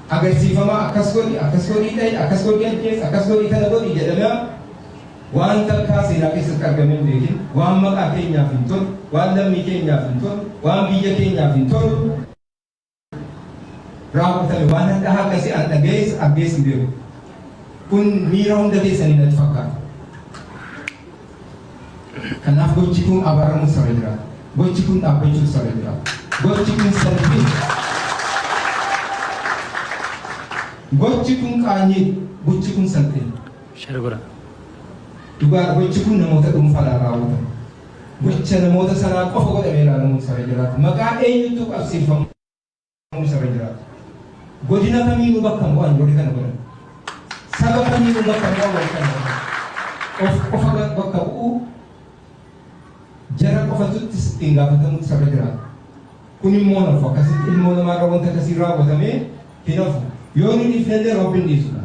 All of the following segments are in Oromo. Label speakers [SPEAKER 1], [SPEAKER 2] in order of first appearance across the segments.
[SPEAKER 1] agarsiifamaa akkas godhi, akkas godhii dha'i, akkas godhii ajjeesi, akkas godhii kana godhi jedhamaa waan takkaa seenaa keessatti argamee hin beekin, waan maqaa keenyaaf hin tolu, waan lammii keenyaaf hin tolu, waan biyya keenyaaf hin tolu raawwatame waan hadhaa akkasii an dhaga'ees argees hin beeku. Kun miira hunda keessanii natti fakkaata. Kanaaf gochi kun abaramuus irra jira. Gochi kun dhaabbachuus irra jira. Gochi kun salphina. Gochi kun qaanyii. Gochi kun salphina. Share godha. Dhugaa gochi kun namoota dhuunfaadhaan raawwatama. Gocha namoota sanaa qofa godhamee ilaalamuun sarara jiraata. Maqaa eenyutu qabsiifama? Barumsa irra jiraatu. Godina kamiinuu bakka bu'an warri kana godhan. Saba kamiinuu bakka bu'an warri kana godhan. Of qofa bakka bu'uu jara qofatuttis ittiin gaafatamutti sarara jiraatu. Kun immoo nafu akkasitti ilmoo namaarra wanta akkasii raawwatamee hin hafu. Yoo inni dhiifnellee rabbiin dhiisudha.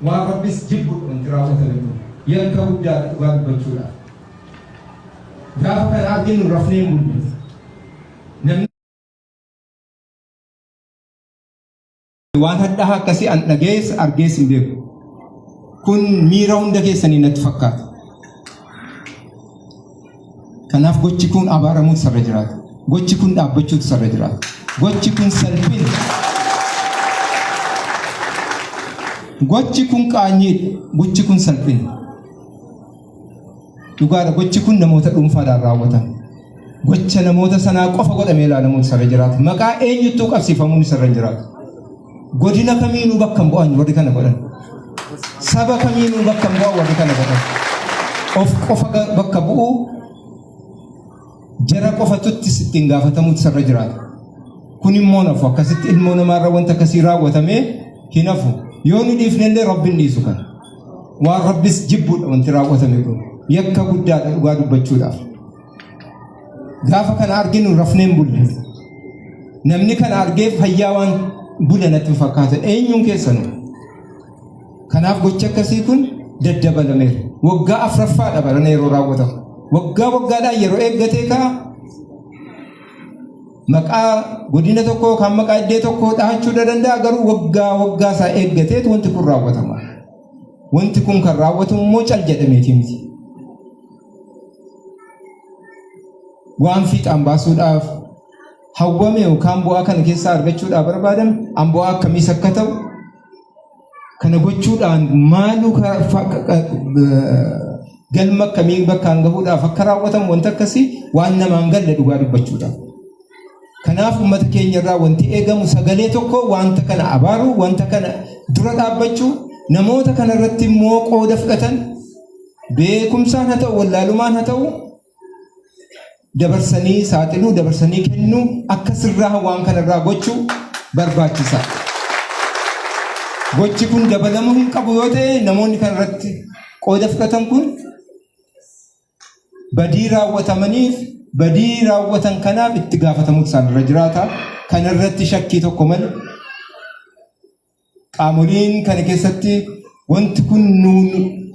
[SPEAKER 1] Waan rabbis jibbudha wanti raawwatame kun. Yakka guddaadha dhugaa dubbachuudhaaf. Gaafa kana arginu rafnee hin bullu. Waan hadhaa akkasii an dhagees argees hin beeku. Kun miira hunda keessanii natti fakkaata. Kanaaf gochi kun abaaramuutu sarra jiraata. Gochi kun dhaabbachuutu sarra jiraata. Gochi kun salphina. Gochi kun qaanyiidha. Gochi kun salphina. Dhugaadha gochi kun namoota dhuunfaadhaan raawwatame. Gocha namoota sanaa qofa godhamee ilaalamuun isarra jiraata. Maqaa eenyuttuu qabsiifamuun isarra hin jiraatu. Godina kamiinuu bakka hin bu'an warri kana godhan. Saba kamiinuu bakka hin bu'an warri kana godhan. Of qofa bakka bu'uu Jara qofatuttis ittiin gaafatamuutu isarra jiraata. Kun immoo nafu akkasitti ilmoo namaarra wanta akkasii raawwatamee hin hafu. Yoo nu dhiifnellee rabbiin dhiisu kan. Waan rabbis jibbuudha wanti raawwatame kun. Yakka guddaadha dhugaa dubbachuudhaaf. Gaafa kana arginu rafneen bulle. Namni kana argee fayyaa waan bule natti fakkaata. Eenyuun keessanuu? Kanaaf gochi akkasii kun daddabalameera. Waggaa afraffaadha barana yeroo raawwatamu. Waggaa waggaadhaan yeroo eeggatee ka'a. Maqaa godina tokkoo yookaan maqaa iddee tokkoo dhahachuu ni danda'a garuu waggaa waggaa isaa eeggateet wanti kun raawwatama. Wanti kun kan raawwatamu immoo cal jedhameeti miti. Waan fiixaan baasuudhaaf hawwame yookaan bu'aa kana keessaa argachuudhaaf barbaadame an bu'aa akkamiis akka ta'u Kana gochuudhaan maaluu galma akkamii bakkaan gahuudhaaf akka raawwatamu wanta akkasii waan namaan galle dhugaa dubbachuudhaaf. Kanaaf uummata keenya irraa wanti eegamu sagalee tokko wanta kana abaaruu, wanta kana dura dhaabbachuu, namoota kana irratti immoo qooda fudhatan beekumsaan haa ta'u, wallaalumaan haa ta'u dabarsanii saaxiluu dabarsanii kennuu akka sirraa waan kanarraa gochuu barbaachisa. Gochi kun dabalamuu hin qabu yoo ta'e namoonni kanarratti qooda fudhatan kun badii raawwatamaniif badii raawwatan kanaaf itti gaafatamuutu isaanirra jiraata. Kanarratti shakkii tokko malee Qaamoliin kana keessatti wanti kun nu,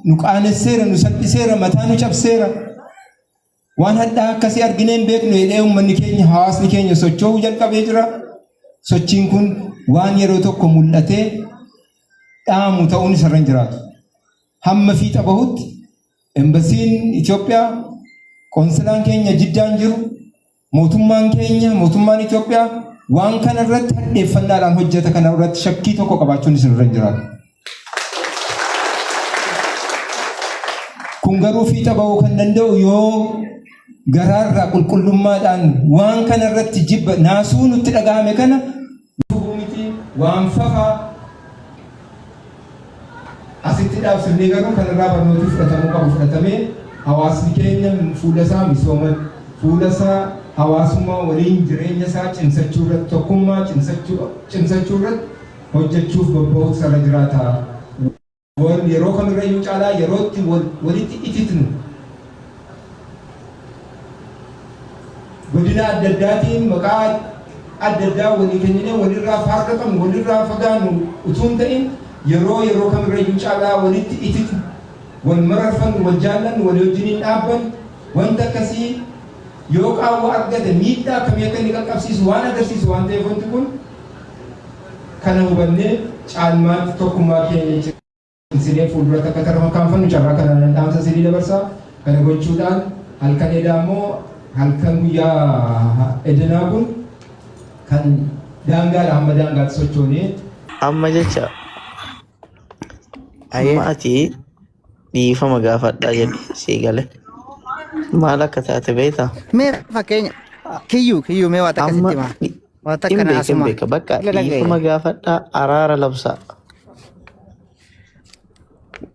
[SPEAKER 1] nu qaanesseera, nu salphiseera, mataa nu cabseera. Waan hadhaa akkasii arginee hin beeknu jedhee uummanni keenya, hawaasni keenya socho'uu jalqabee jira. Sochiin kun waan yeroo tokko mul'atee dhaamu ta'uun isarra hin jiraatu. Hamma fiixa bahutti embasiin Itoophiyaa, qoonsilaan keenya jiddaan jiru, Mootummaan keenya, mootummaan Itoophiyaa waan kana irratti hadheeffannaadhaan hojjeta kana irratti shakkii tokko qabaachuun isin irra hin jiraatu. Kun garuu fiixa ba'uu kan danda'u yoo garaarraa qulqullummaadhaan waan kana irratti jibba naasuu nutti dhaga'ame kana gufuu mitii waan fafa asitti dhaabsifnee garuu kan irraa barnootii fudhatamuu qabu fudhatamee hawaasni keenya fuula isaa misooma fuula isaa hawaasummaa waliin jireenya isaa cimsachuu irratti tokkummaa cimsachuu cimsachuu irratti hojjechuuf bobba'uutu sarara jiraataa Boon yeroo kamirrayyuu caalaa yeroo itti wal walitti ititnu. Godina adda addaatiin maqaa adda addaa walii kenninee walirraa faarraqamnu, walirraa fagaannu utuu hin ta'in yeroo yeroo kamirrayyuu caalaa walitti ititnu, wal mararfannu, wal jaallannu, walii wajjiniin dhaabbannu, wanti akkasii yoo qaawwa argate miidhaa akkamii akka inni qaqqabsiisu waan agarsiisu waan ta'eef wanti kun, kana hubannee caalmaatti tokkummaa keenya cimsinee fuulduratti akka tarkaanfannu carraa kana nan dhaamsa isinii dabarsa. Kana gochuudhaan halkan edaa immoo halkan guyyaa edanaa kun kan daangaadha hamma daangaatti sochoonee Amma jecha
[SPEAKER 2] Ayee. amma ati dhiifama gaafadhaa jedhu sii gale. Maal akka taate beektaa? Mee fakkeenya
[SPEAKER 3] kiyyuu kiyyuu mee waan takka Amma sitti himaa. Wanta Hin kana beeka hin asuma. beeka. Bakka Ila dhaga'e. dhiifama
[SPEAKER 2] gaafadhaa araara labsaa.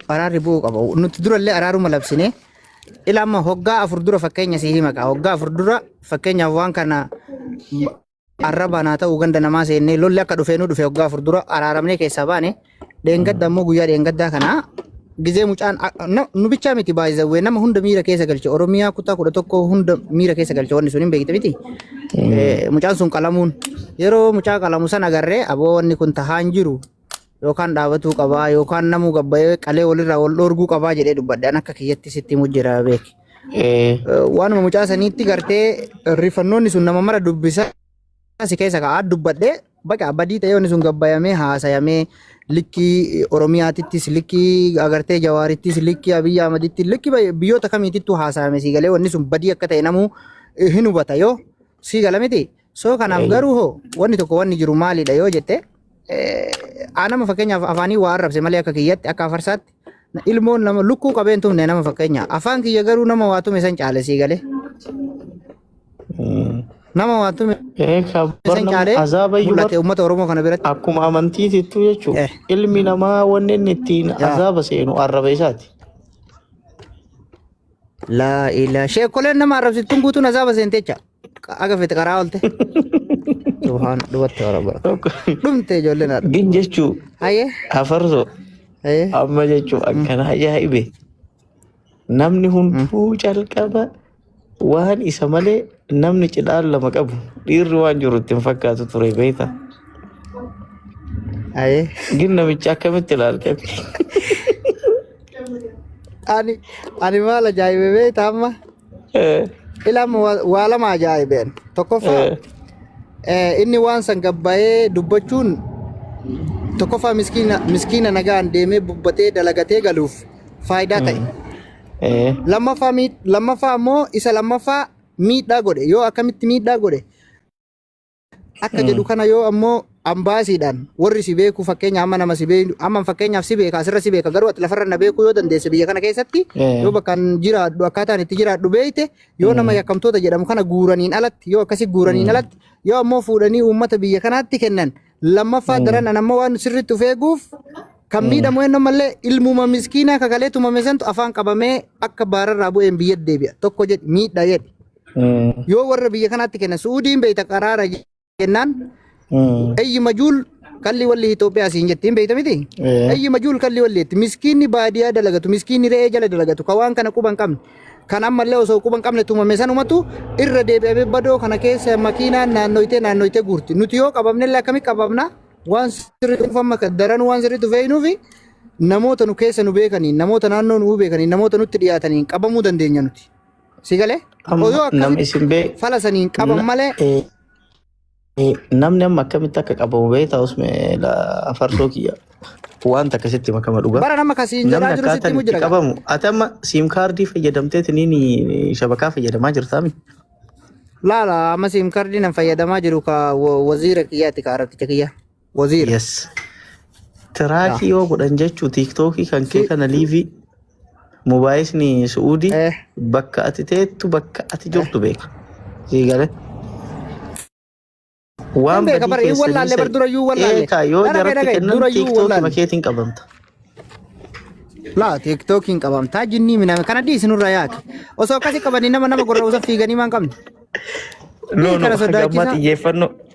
[SPEAKER 3] Araarri bu'uu qaba. Nuti durallee araaruma labsine. Ila amma hoggaa afur dura fakkeenya si hima qaba. Hoggaa afur dura fakkeenyaaf waan kana arrabaan haa ta'u ganda namaa seennee lolli akka dhufee nu dhufe hoggaa afur dura araaramnee keessaa baane. Dheengadda ammoo guyyaa dheengaddaa kanaa gizee mucaan nu bichaa miti baay'ee nama hunda miira keessa galche Oromiyaa kutaa kudha tokko hunda miira keessa galche wanni sun hin beekte miti. Mucaan sun qalamuun yeroo mucaa qalamu san agarree aboo wanni kun tahaan jiru yookaan dhaabatuu qabaa yookaan namuu gabbayee qalee walirraa wal dhoorguu qabaa jedhee dubbadhe an akka kiyyatti sitti himu jira beeki. Waanuma mucaa saniitti gartee rifannoonni sun nama mara dubbisa si keessa ka'aa dubbadhee baqa badii ta'ee wanni sun gabbayamee haasayamee likkii Oromiyaatittis likkii agartee Jawaarittis likkii Abiyyi Ahmadittis likkii bay- biyyoota kamiitittuu haasayame sii galee wanni sun badii akka ta'e namuu eh, hin hubata yoo sii gala miti. Soo kanaaf Eeyyee. garuu hoo wanni tokko wanni jiru maalidha yoo jette eh, aa nama fakkeenyaaf afaanii waa arrabse malee akka kiyyatti akka afarsaatti Ilmoon nama lukkuu qabeen tumne nama fakkeenya. Afaan kiyya garuu nama waa tume san caale sii galee. Nama waa tume Ee ka san barnam caale azaaba iyyuu bar mul'ate uummata Oromoo kana biratti. akkuma amantiitittu
[SPEAKER 2] jechuudha. Eh. Ilmi namaa wanni inni ittiin Yaa. azaaba seenu arraba isaati.
[SPEAKER 3] Laa ilaa sheekoleen nama arrabsittuun guutuun azaaba seentecha. Aga fete karaa oolte. Subhaan dubatte warabara. Tokko Dhumte ijoolleen haadha. gin jechuu Hayyee.
[SPEAKER 2] hafarso Hayyee. amma jechuu akkana ajaa'ibe namni hunduu calqaba waan isa malee namni cidhaan lama qabu dhiirri waan jiru ittiin fakkaatu ture beekta. Hayyee. Gin namichi akkamitti ilaalte?
[SPEAKER 3] Ani ani maal ajaa'ibe beekta amma. Eh, Ilam wa- waa lama ajaa'ibeen. Tokkoffaa eh, eh, inni waan san gabbaa'ee dubbachuun tokkoffaa miskiina miskiina nagaan deemee bubbatee dalagatee galuuf faayidaa ta'e. eh, Lammaffaa miid- lammaffaa immoo isa lammaffaa miidhaa godhe yoo akkamitti miidhaa godhe Akka jedhu kana yoo ammoo ambaasiidhaan warri si beeku fakkeenya amma nama si beeku amma fakkeenyaaf si beeka asirra si beeka garuu ati lafarra na beekuu yoo dandeesse biyya kana keessatti yoo bakkaan jiraadhu akkaataan itti jiraadhu beeyte yoo nama yakkamtoota jedhamu kana guuraniin alatti yoo akkasi guuraniin alatti yoo ammoo fuudhanii uummata biyya kanaatti kennan lammaffaa daran an ammoo waan sirriitti of eeguuf kan miidhamu eenyu malee ilmuma miskiinaa kakalee tumame santu afaan qabamee akka baararraa bu'een biyya deebi'a tokko jedhi miidha jedhi. Mm. Yoo warra biyya kanaatti kenna Suudiin beeyta qaraara jennaan Mm. ayyi majuul kalli walli Itoophiyaa siin jettiin beeyta miti. Eh. Ayyi majuul kalli walli jetti miskiinni baadiyyaa dalagatu miskiinni re'ee jala dalagatu ka waan kana quban qabne kan ammallee osoo quban qabne tumame sanumatu irra deebi'amee badoo kana keessa makiinaan naannoytee naannoytee guurti nuti yoo qabamnellee akkamii qabamna waan sirrii dhuunfamma daran waan sirrii dhufeenuufi namoota nu keessa nu beekaniin namoota naannoo nu beekaniin namoota nutti dhiyaataniin qabamuu dandeenya nuti. Si galee? Amma Odoo nam akkamitti isin bee fala saniin qaban na- malee eh, eh, namni
[SPEAKER 2] amma akkamitti akka qabamu beektaa osme farsoo kiyya wanta akkasitti makama dhugaa. bara nama kasiin jedhaa Namni jiru
[SPEAKER 3] sitti akkaataan himu itti jira gaa. qabamu ati amma siim
[SPEAKER 2] kaardii fayyadamteeti ni shabakaa fayyadamaa jirtaa miti. Laala
[SPEAKER 3] amma siim kaardii nan fayyadamaa jiru ka wa- waziira kiyyaati ka arabticha kiyya. Waziira. Yes.
[SPEAKER 2] Tiraakii yoo godhan jechuu tiiktookii kan kee Si- kana liivii mubaayiisni su'uudii Eh, bakka ati teettu bakka ati jirtu beeka. Sii galee. hin Waan beeka badii bara hin keessanii wallaalle
[SPEAKER 3] bar sani dura yuu wallaalle. eekaa yoo Dhara kee jaratti dhagaye kennan
[SPEAKER 2] dura yuu tiiktookii wallaalle. makeetiin qabamta.
[SPEAKER 3] Laa tiiktookiin qabamtaa jinnii miname kana dhiisi nurra yaake. Osoo akkasi qabanii nama nama gorra osoo fiiganii maan qabne. No
[SPEAKER 2] Dhiisi no kana gammaa sodaachisaa. xiyyeeffannoo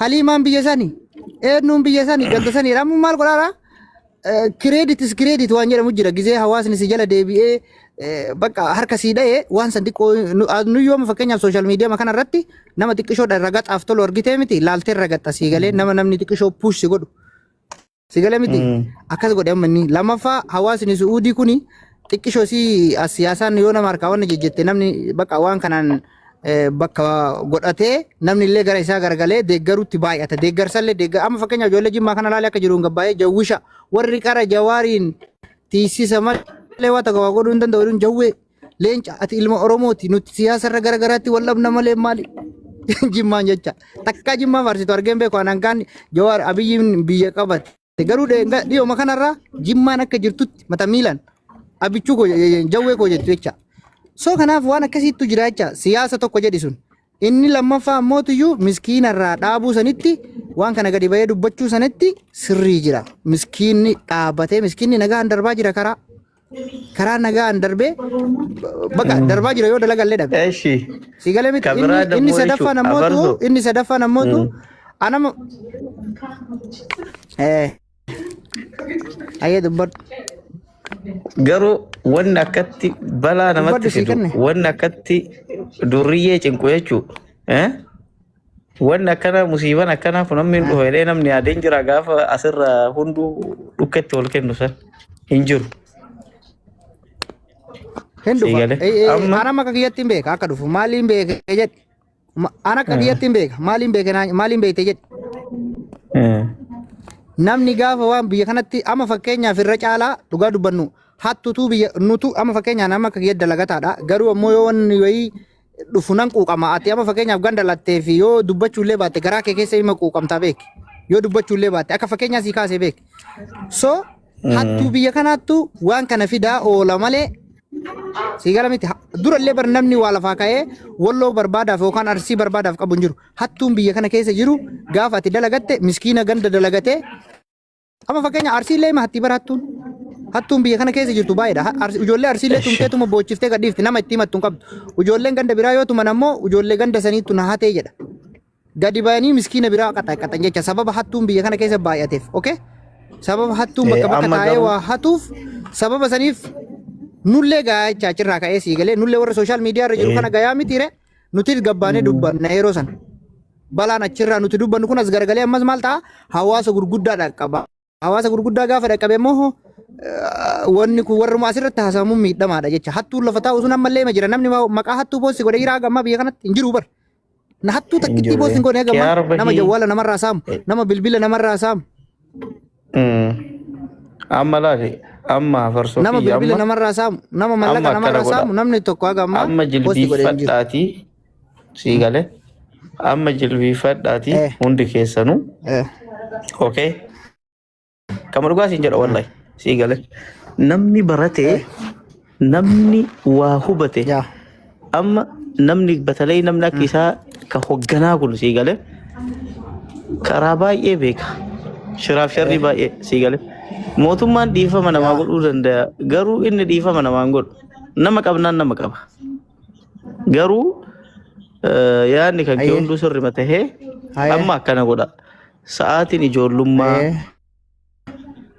[SPEAKER 3] Haliimaan biyya sani. Eenyuun biyya sani ganda sani. Amma maal godhaara? Kireeditis kireedit waan jedhamu jira. Gizee hawaasni si jala deebi'ee eh, bakka harka sii dha'ee waan san xiqqoo nu- ah, nu yooma fakkeenyaaf sooshaal miidiyaa kana irratti nama xiqqishoodha irra gaxaaf tolu argitee miti laaltee irra gaxa sii galee nama namni xiqqishoo puush si godhu Si gala miti. Mm. Akkas godhe amma inni. Lammaffaa hawaasni Su'uudii kuni xiqqishoo si as siyaasaan yoo nama harkaa waan jejjette namni bakka waan kanaan eh, bakka godhatee namni illee gara isaa garagalee deeggaruutti baay'ata. Deeggarsallee deeggar amma fakkeenyaaf ijoollee jimmaa kana ilaalee akka jiru hin gabbaa'ee jawwisha warri qara jawaariin tiisisa malee waa tokko waa godhuu hin danda'u jedhuun jawwee Leenca ati ilma Oromooti nuti siyaasa irra gara garaatti wal dhabna malee maali? Jimmaan jecha takkaa jimmaa faarsitu argeen beeku anaan kaan Jawaar Abiyyiin biyya qabate. Garuu dheenga- dhiyooma kanarraa jimmaan akka jirtutti mata miilan abichuu koo jawwee koo jettu jecha. So kanaaf waan akkasiittu jira jecha siyaasa tokko jedhi sun. Inni lammaffaa ammootiyyuu miskiina irraa dhaabuu sanitti waan kana gadi ba'ee dubbachuu sanitti sirrii jira. Miskiinni dhaabatee miskiinni nagaan darbaa jira karaa. Karaa nagaan darbee baqa darbaa jira yoo dalagallee dhabe. Eshi. Si galee miti Kabiraa inni inni dammoo sadaffaan ishu- ammootu abarsu. inni sadaffaan ammootu Mm. anama eh Ayyee dubbadhu.
[SPEAKER 2] Garuu wanni akkatti balaa namatti Dubbadhu sii fidu, kenne. wanni akkatti durriyyee cinqu jechuudha. Eh? Wanni akkana musiiban akkanaa kun amma hin dhufa jedhee namni yaadeen jira gaafa asirra hunduu dhukketti wal kennu san hin jiru.
[SPEAKER 3] Hin dhufa. Siigale. Eh, eh, Amma- Anam akka kiyyatti hin beeka akka dhufu. Maaliin beeke jedhe. Ma- Ana akka kiyyatti hin beeka. Maaliin beeke naa- maaliin beekte jedhe. Eh. Namni gaafa waan biyya kanatti amma fakkeenyaaf irra caalaa dhugaa dubbannu hattutu biyya nutu amma fakkeenyaaf nama akka kiyyatti dalagataadha. Garuu ammoo yoo wanni wayii dhufu nan quuqama. Ati amma fakkeenyaaf ganda lattee fi yoo dubbachuu illee baatte garaa kee keessa hima quuqamtaa beeki. Yoo dubbachuu illee baatte akka fakkeenyaa sii kaasee beeki. So Hattuu biyya kanaattu waan kana fidaa oola malee sii gala miti. Ha- Durallee bar namni waa lafaa ka'ee walloo barbaadaaf yookaan arsii barbaadaaf qabu hin jiru. Hattuun biyya kana keessa jiru gaafa ati dalagatte miskiina ganda dalagatee amma fakkeenya arsiillee hima hattii bara hattuun. Hattuun biyya kana keessa jirtu baay'eedha. Ha- Arsi- Ijoollee arsiillee Eshi. tumteetuma boochiftee gadhiifti nama itti himattu hin qabdu. Ijoolleen ganda biraa yoo tuman ammoo ijoollee ganda saniittu na hatee jedha. Gadi bayanii miskiina biraa qaxaqaxan jecha sababa hattuun biyya kana keessa baay'ateef. Okay? Sababa hattuun bakka bakka amma taa'ee garuu- waa hatuuf sababa saniif nullee gayaa jecha achirraa ka'ee sii galee nullee warra sooshaal miidiyaa irra jiru Eh. kana gayaa mitiire nutis gabbaanee dubbanna yeroo sana. Balaan achirraa nuti dubbannu kun as garagalee ammas maal ta'a hawaasa gurguddaa dhaqqaba. Hawaasa gurguddaa gaafa dhaqqabe immoo wanni kun warruma asirratti haasa'amuun miidhamaadha jecha. Hattuun lafa taa'u sun ammallee ma jira. Namni maqaa hattuu boossi godhe jiraa gammaa biyya kanatti hin jiru bar. Na hattuu takkittii boossi hin godhe gammaa nama jawwaala namarraa saamu nama bilbila namarraa saamu.
[SPEAKER 2] Amma laali amma farsoo nama bilbila namarraa
[SPEAKER 3] saamu nama mallaqa namarraa saamu namni tokko haga ammaa amma boossi godhe hin
[SPEAKER 2] jiru. jilbiifadhaatii sii galee amma jilbiifadhaati Eh. hundi keessanuu Eh, okay kama dhugaa siin jedha wallahi sii galee namni baratee namni waa hubate yaa amma namni batalay namni akka isaa ka hogganaa kun sii galee karaa baay'ee beeka shiraaf sharrii baay'ee sii galee mootummaan dhiifama namaa godhuu danda'a garuu inni dhiifama namaan godhu nama qabnaan nama qaba Garuu eh, yaadni kan kee Hayyee. hunduu sirrima tahee Hayyee. amma akkana godha. Sa'aatiin ijoollummaa, Hayyee.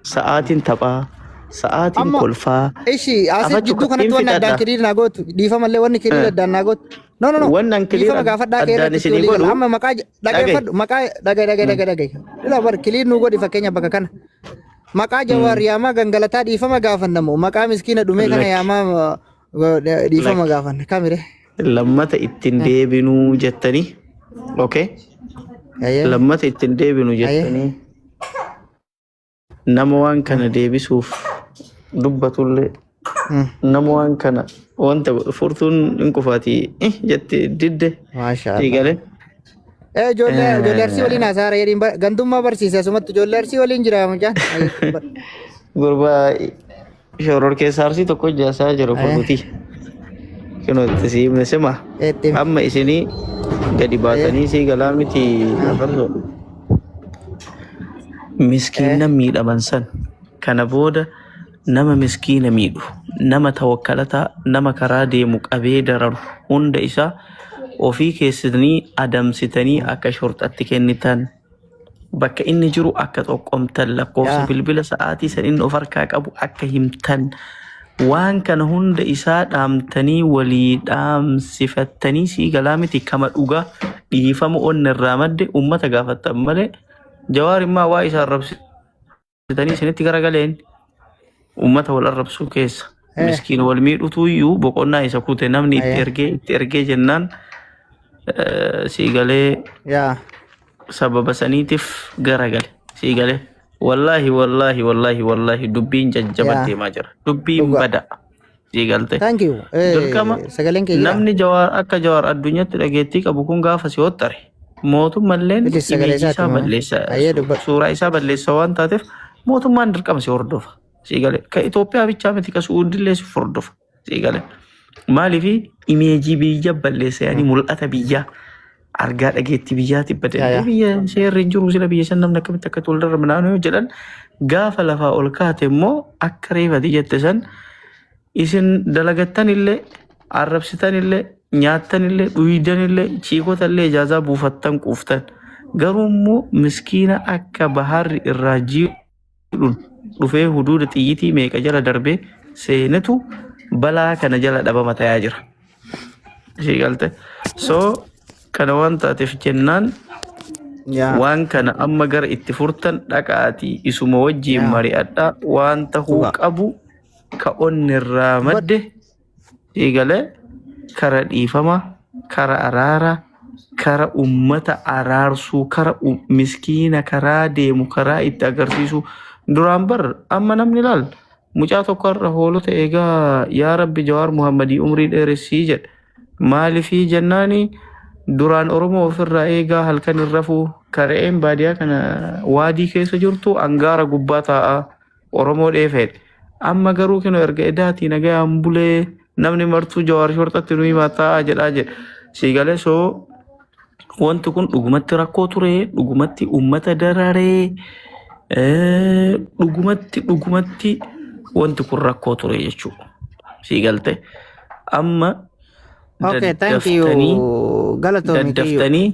[SPEAKER 2] sa'aatiin taphaa, sa'aatiin Amma- kolfaa. Ishi asi Afachu
[SPEAKER 3] jidduu kanatti hin wanni addaan fixadha. kiriir naa gootu. Dhiifama illee wanni kiriir Eh. addaan naa gootu. No no no. Wanni an kiriir Dhiifama ad- gaafadhaa
[SPEAKER 2] kee addaan irratti isinii
[SPEAKER 3] walii gala. godhu- Amma maqaa j- dhageeffadhu maqaa dhagee dhagee dhagee dhagee. Ila bar kiriir nuu godhi fakkeenya bakka kana. Maqaa jawaar yaamaa gangalataa dhiifama gaafannamu. Maqaa miskiina dhumee kana Lakki. yaamaa Dhiifama gaafanna kamire. Lammata ittiin
[SPEAKER 2] deebinuu jettanii. Okay. Ayyee. Lammata ittiin deebinu Aye. jettanii. Nama waan kana deebisuuf dubbatullee Mm. nama waan kana wanta furtuun hin qufaatii eh, jette didde Maasha Allah. eegale. Eh, ijoollee Eh. ijoollee arsii waliin haasaara jedhiin ba- gandummaa barsiise asumatti ijoollee arsii waliin jira mucaan. Ayyee. Gurbaa Shoror keessaa arsii tokko ijaasaa jiru kun nuti. Kunoo itti sii himne sima. Eetti. Amma isinii gadi baatanii sii galaa miti afarso. Miskiina miidhaman san kana booda nama miskiina miidhu nama tawakkalataa nama karaa deemu qabee dararu hunda isaa ofii keessanii adamsitanii akka shorxatti kennitan bakka inni jiru akka xoqqomtan lakkoofsa Yaa. bilbila sa'aatii san inni of harkaa qabu akka himtan waan kana hunda isaa dhaamtanii walii dhaamsifattanii sii galaa miti kama dhugaa dhiifama onni irraa madde ummata gaafattan malee jawaar immaa waa isaa arrabsi Sitanii isinitti garagaleen uummata wal arrabsuu keessa Eh. miskiin wal miidhutu iyyuu boqonnaa isa kute namni itti Ayaa. ergee itti ergee jennaan eh, sii galee yaa sababa saniitiif garagale sii galee wallaahi wallaahi wallaahi wallaahi dubbiin jajjaban Yaa. deemaa jira dubbiin Dhugaa. bada sii galte. Thank you. Eh, Dirqama sagaleen kee jira. namni jawaar akka jawaar addunyaatti dhageettii qabu kun gaafa si hottare mootummalleen Bilis sagalee imeejii isaati isaa moo? balleessa Ayyee su- dubbadhu. suuraa isaa balleessa waan taateef mootummaan dirqama si hordofa sii gale ka Itoophiyaa bichaa miti ka Suudillee si hordofa sii gale maaliif imeejii biyya balleessa yaani mul'ata biyyaa argaa dhageettii biyyaati Ya, badallee ya. biyya seerri hin jiru sila biyya san namni akkamitti akka wal darba naannoo yoo jedhan gaafa lafaa ol kaate immoo akka reefati jette san isin dalagattan illee arrabsitan illee nyaattan illee dhuydan illee ciikota illee ijaazaa buufattan quuftan garuu immoo miskiina akka baharri irraa jiru jedhuun dhufee huduuda xiyyitii meeqa jala darbee seenetu balaa kana jala dhabama tayaa jira. Ishee galte. So kana waan taateef jennaan Yaa. waan kana amma gara itti furtan dhaqaatii isuma wajjiin Yaa. mari'adhaa waan tahuu Dhugaa. qabu ka onnerraa madde eegale kara dhiifama kara araara kara ummata araarsuu kara u- miskiina karaa deemu karaa itti agarsiisuu duraan bar amma namni laal mucaa tokko irra hoolota eegaa yaa rabbi jawaar muhammadii umrii dheeressii jedhe maalifii jennaani duraan oromoo ofirraa eegaa halkan hin rafuu kara'een baadiyaa kana waadii keessa jirtu angaara gubbaa taa'aa Oromoo dheefeedhe. Amma garuu kino erga edaatii nagayaan bulee namni martuu jawaar shorxatti nu himataa jedhaa jedhe. Sii galee soo wanti kun dhugumatti rakkoo ture dhugumatti uummata dararee eh, dhugumatti dhugumatti wanti kun rakkoo ture jechuudha. Sii galte amma Okay,
[SPEAKER 3] thank daddaftanii you. Galatoomi kiyyoo. daddaftanii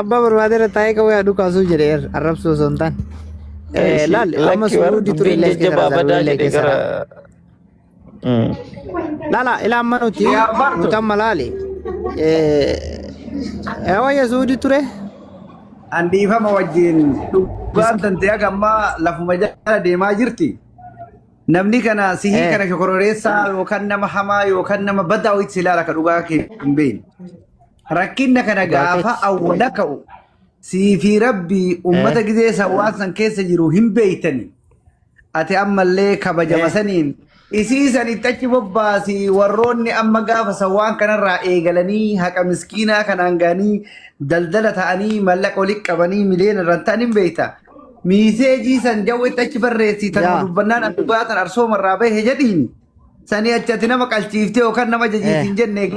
[SPEAKER 3] Abbaa barbaadeera taa'ee qabu yaa dhukaasuu jedhe er arrabsuu osoo hin taane. Eh, Laal amma suudii ture illee keessa jabaa badaa illee jedhe keessa. gara. Mm. Laala ilaa amma nuti Yaa bartu. nuti amma laali. Eh, wayya suudii ture. An
[SPEAKER 4] dhiifama wajjin dhugaan tantee haga ammaa lafuma jala deemaa jirti. Namni kana sihii Eh. kana shokororeessaa yookaan nama hamaa yookaan nama badaa wayitti si ilaala ka dhugaa kee hin beekne. Rakkinna kana gaafa awwala ka'u sii fi rabbii uummata gizee san waan san keessa jiru hin beektani. Ati ammallee kabajama Eh. saniin isii san itti achi bobbaasi warroonni amma gaafa san waan kanarraa eegalanii haqa miskiinaa kanaan ga'anii daldala ta'anii mallaqa walitti qabanii miliyoona irraan ta'an hin beekta. miiseejii san jawwetti achi barreessii tanuma Yaa. dubbannaan as dhugaa san arsooma irraa bahe jedhiin sanii achi ati nama qalchiiftee yookaan nama Eh. jajiitiin jenne egaa